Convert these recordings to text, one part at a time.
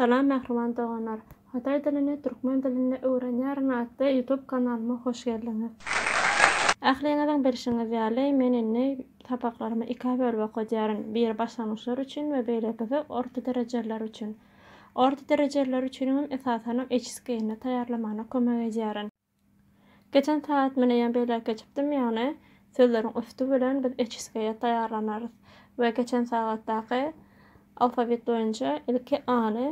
Salam mähriban doganlar! Hytaý dilini türkmen dilinde öwrenýärin atly YouTube kanalyma hoş geldiňiz! Ähliňiziň bilşiňiz ýaly, men indi sapaklarymy ikä bölüp okadýaryn, biri başlangyçlar üçin we beýlekisi orta derejeliler üçin. Orta derejeliler üçiňem esasanam HSK-ni taýýarlamana kömek edýärin. Geçen saýat meneyem beýläk geçipdim, ýagny sözleriň üsti bilen biz oçiskeýe taýýarlanarys we geçen sagatdaky alfawit boýunça ilki A-ny,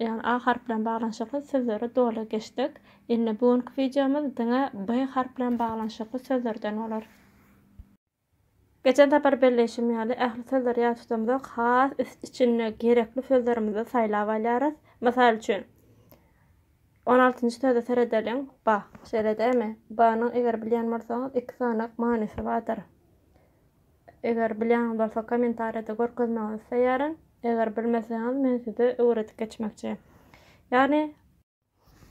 ýagny A harp bilen baglanyşykly sözleri doly geçdik. Indi bu günki wideomyz diňe B harp bilen baglanyşykly sözlerden bolar. Geçen sapar belleýşim ýaly, ähli sözleri ýat tutamzok, has üst içinde gerekli sözlerimizi saýlap alýarys. Mysal üçin, on altynjy söze seredeliň, ba. Şeýle dämi? Banyň eger bilýän bolsaňyz iki sanak manysy bardyr. Eger bilýäniňiz bolsa kommentariýada görkezmegiňizi isleýärin. Eger bilmeseňiz men size öwredip geçmekçi. Ýagny.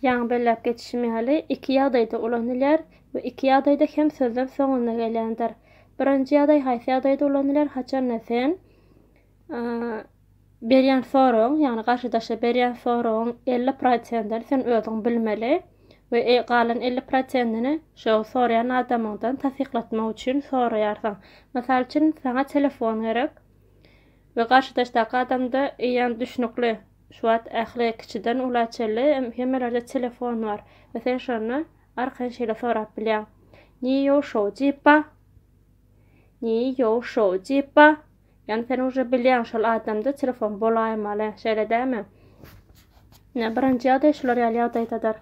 Ýaňy belläp geçişim ýaly, iki ýagdaýda ulanylýar we iki ýagdaýda hem sözler soňunda gelýändir. Birinji ýagdaý haýsy ýagdaýda ulanylýar, haçanda sen berýän soragyň, ýagny garşydaşa berýän soragyň elli prosentini sen özüň bilmeli we galan elli prosentini şo soraýan adamyňdan tassyklatmak üçin soraýarsyň. Mysal üçin, saňa telefon gerek we garşydaşdaky adamda eýýäm düşnükli Şu wagt ähli kiçiden ula çenli hemmelerde telefon bar we sen şonda arkaýyn şeýle sorap bilýäň. Ni ýou şou jip ba? Ni ýou şou jip ba? Ýani sen uje bilýäň şol adamda telefon bolaýmaly, şeýle dälmi? Ine, birinji ýagdaý şular ýaly ýagdaýdadyr.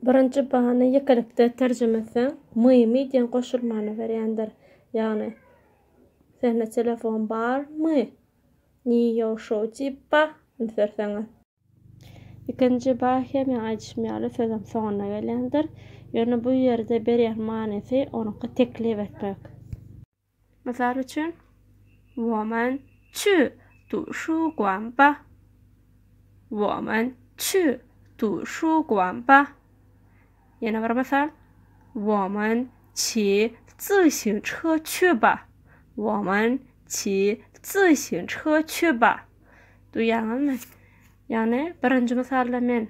Birinji bany ýekelikde terjime etseň, mymy diýen goşulmany berýändir. Ýagny, Sende telefon barmy? Ni ýow şow diýip ba, üns berseňiz. Ikinji ba hem ýa aýdyşym ýaly sözüň soňunda gelýändir. Ýöne bu ýerde berýän manysy onuňky teklip etmek. Mysal üçin, Woman çü tu şu guan ba. Woman çü tu şu guan ba. Ýene bir mysal, Woman çi zi xiu çhe çü ba. Woman çi zi xiu çhe çü ba. Duýýaňyzmy? Ýagny, birinji mysalda men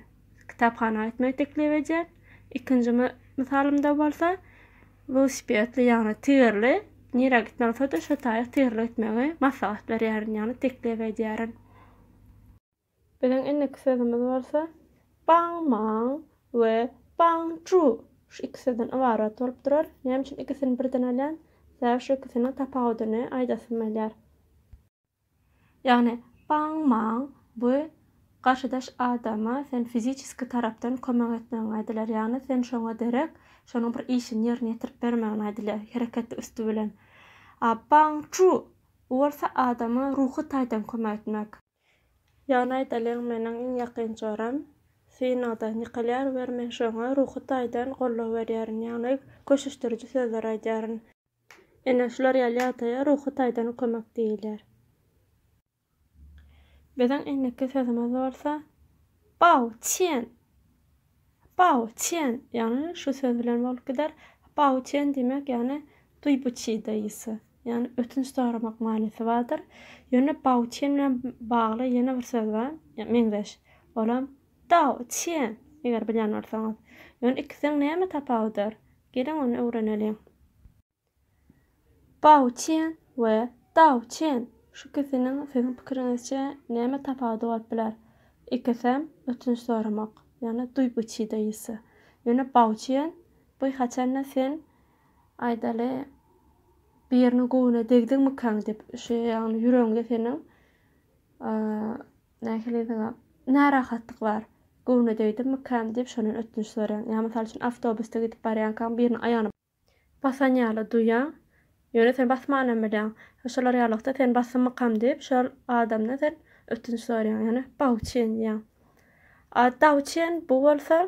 kitaphana gitmegi teklip edýän, ikinji mysalymda bolsa, Welosipedli ýagny tigirli nirä gitmeli bolsada şo taýy tigirli gitmegi maslahat berýärin ýagny teklip edýärin. Biziň indiki sözümiz bolsa Bang mang we Bang zhu şu iki sözden ybarat bolup durar. Näme üçin ikisini birden alýan? Sebäbi şu ikisiniň tapawudyny aýdasym gelýär. Ýagny, baň-maň we garşydaş adama sen fiziçeski tarapdan kömek etmegiň aýdylýar. Ýagny, sen şoňa derek, şonuň bir işini ýerine ýetirip bermegiň aýdylýar, hereketli üsti bilen. A baň-çu, bu bolsa adama ruhy taýdan kömek etmek. Ýagny, aýdalyň, meniň iň ýakyn joram synagdan ýykylýar wer men şoňa ruhy taýdan goldaw berýärin, ýagny, köşeşdiriji sözler aýdýaryn. Ine, şular ýaly ýagdaýa ruhy taýdan kömek diýilýär. Biziň indiki sözümiz bolsa Bao Tian! Bao Tian! Ýagny şu söz bilen bolup gider. Bao Tian diýmek, ýagny Duý bu çydaýysy. Ýagny ötünç soramak manysy bardyr. Ýöne Bao Tian bilen bagly ýene bir söz bar, meňzeş. Olam Dao Tian, eger bilýän bolsaňyz. Ýöne ikisiň näme tapawudyr? Geliň ony öwreneliň. Bao Qian we Dao Qian, şu ikisiniň siziň pikiriňizçe näme tapawudy bolup biler? Ikisem ötünç soramak, ýagny duý bu çi de ýisi. Ýöne Bao Qian, bu haçanda sen, aýdaly, biriniň göwnüne degdiňmikaň diýip, şu ýagny ýüregiňde seniň, Nähili diňe närahatlyklar, göwne degdimikäm diýip şondan ötünç soraýaň. Ýa mysal üçin awtobusda gidip barýankaň biriniň aýagyny. Basan ýaly duýýaň, ýöne sen basmanam bilýäň. Şolar ýalylykda sen basymmykam diýip şol adamdan sen ötünç soraýaň. Ýöne bawuçin diýýäň. A dawuçin bu bolsa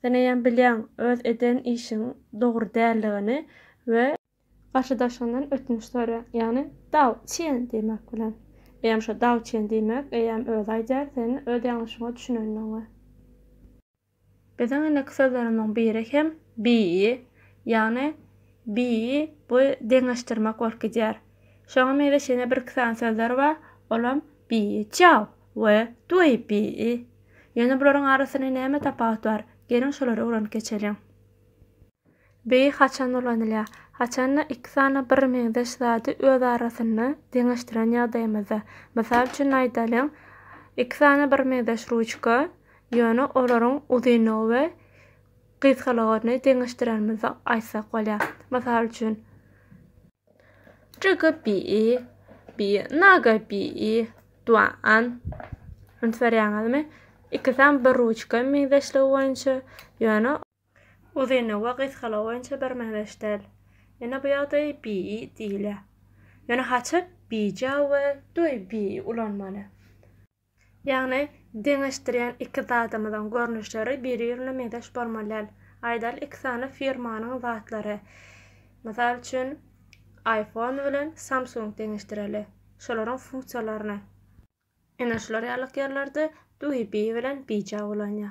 sen eýýäm bilýäň öz eden işiň dogry däldigini we. Garşydaşyňdan ötünç sora, ýagny Dao Çen diýmek bilen. Eýýäm şo Dao Çen diýmek, eýýäm özi aýdar, sen öz ýalňyşyňa düşünendigiňe. Biziň indiki sözlerimiziň biri hem Bi, ýagny Bi bu deňeşdirmek bolup gidýär. Şoňa meňzeş ýene birki sany sözler bar, olam Bi Jiao we Dui Bi. Ýöne bularyň arasynda näme tapawut bar? Geliň şolary öwrenip geçeliň. Beýi haçan ulanylýar? Haçanda iki sany birmeňzeş zady öz arasynda deňeşdiren ýagdaýymyzda. Mysal üçin aýdalyň, iki sany birmeňzeş ruçka, ýöne olaryň uzynlygy we gysgalygyny deňeşdirenimizde aýtsak bolýar. Mysal üçin. Jigi beýi, beýi naga beýi, duan. Üns berýäňizmi? Ikisem bir ruçka meňzeşligi boýunça, ýöne. Uzynlygy we gysgalygy boýunça birmeňzeş däl. Ýöne bu ýagdaýy BI diýilýär. Ýöne haçan bija we doý BI ulanmaly? Ýagny deňeşdirýän iki zadymyzyň görnüşleri biri-birine meňzeş bolmaly däl. Aýdaly iki sany firmanyň zatlary. Mysal üçin iPhone bilen Samsung deňeşdireli. Şolaryň funksiýalaryny. Ene şular ýalyk ýerlerde duýy biý bilen biýja bolanýa.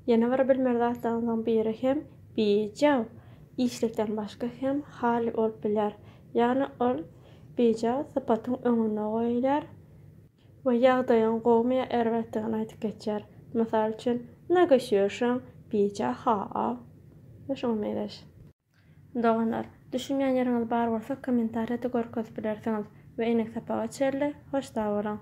Ýene bir bilmeli zatlaryňyzyň biri hem biýja işlikden başga hem hal bolup bilýär. Ýagny ol biýja sypatyň öňünde goýulýar we ýagdaýyň gowumy ýa erbetdigini aýdyp geçýär. Mysal üçin, Naga şýorşaň biýja-ha-a we şuňa meňzeş. Doganlar, düşünýän ýeriňiz bar bolsa kommentariýada görkezip bilersiňiz we enek sapaga çenli hoş sag boluň.